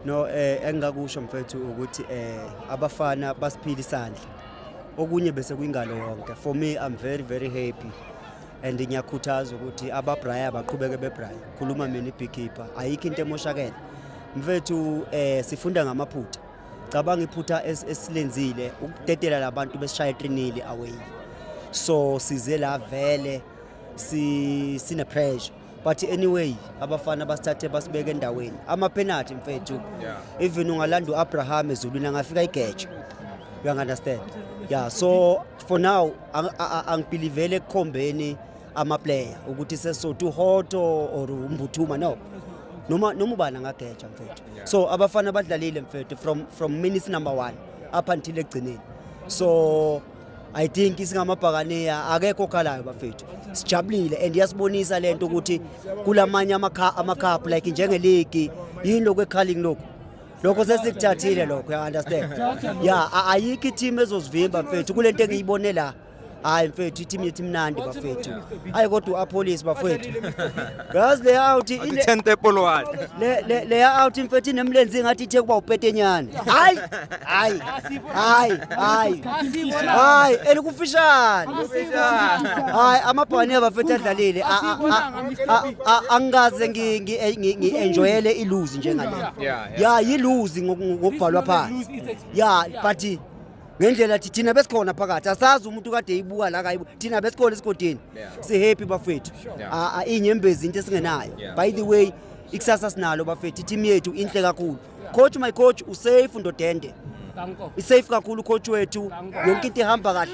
No eh engingakusho mfethu ukuthi eh abafana basiphila isandla. Okunye bese kuyingalo yonke. For me I'm very very happy. And ngiyakhuthaza ukuthi ababraya baqhubeke bebraya. Khuluma mina ibeekeeper. Ayikho into emoshakele. Mfethu eh sifunda ngamaphutha. Cabanga iphutha esilenzile ukudedela labantu besishaya etrinili away. So size la vele si sine pressure. but anyway abafana basithathe basibeke endaweni amaphenathi mfethu even ungalanda u-abraham ezulwini angafika igeje you understand yeah so for now angibhilivele ekukhombeni amaplayer ukuthi sesothi uhoto or umbuthuma no noma noma ubani angageja mfethu so abafana badlalile mfethu from from minutes number 1 up until ekugcineni so I think singamabhakaneya akekho okhalayo bafethu sijabulile and iyasibonisa lento ukuthi kulamanye amakhaphu like njengeligi yini lokhu ekhaling lokhu lokho sesikuthathile lokho ya understand ya ayikho i-team ezosivimba mfethu kule nto engiyibone la hayi mfethu i-team yethu imnandi bafethu hayi kodwa u-apolice bafethu Yazi le out Athi ile- 10 tepolwane. le- le- le out mfethu inemlenzi ngathi ithe kuba upetenyane. Hayi. Hayi. Hayi. Hayi. Hayi, elikufishane. Hayi, amabhani abafethu adlalile. A- a- a- a- a- Angikaze ngi- ngi- eh, ngi- ngi-enjoyele iluzi njengale. Yeah, yeah. Ya, yiluzi ngoku- ngokubhalwa phansi. Ya, but ngendlela thi thina besikhona phakathi asazi umuntu kade eyibuka la kayibu thina besikhona esigodini sihappy bafethu inyembezi into esingenayo by the way ikusasa sinalo bafethu i-team yethu inhle kakhulu coach my coach usafe ndodende isafe kakhulu coach wethu yonke into ihamba kahle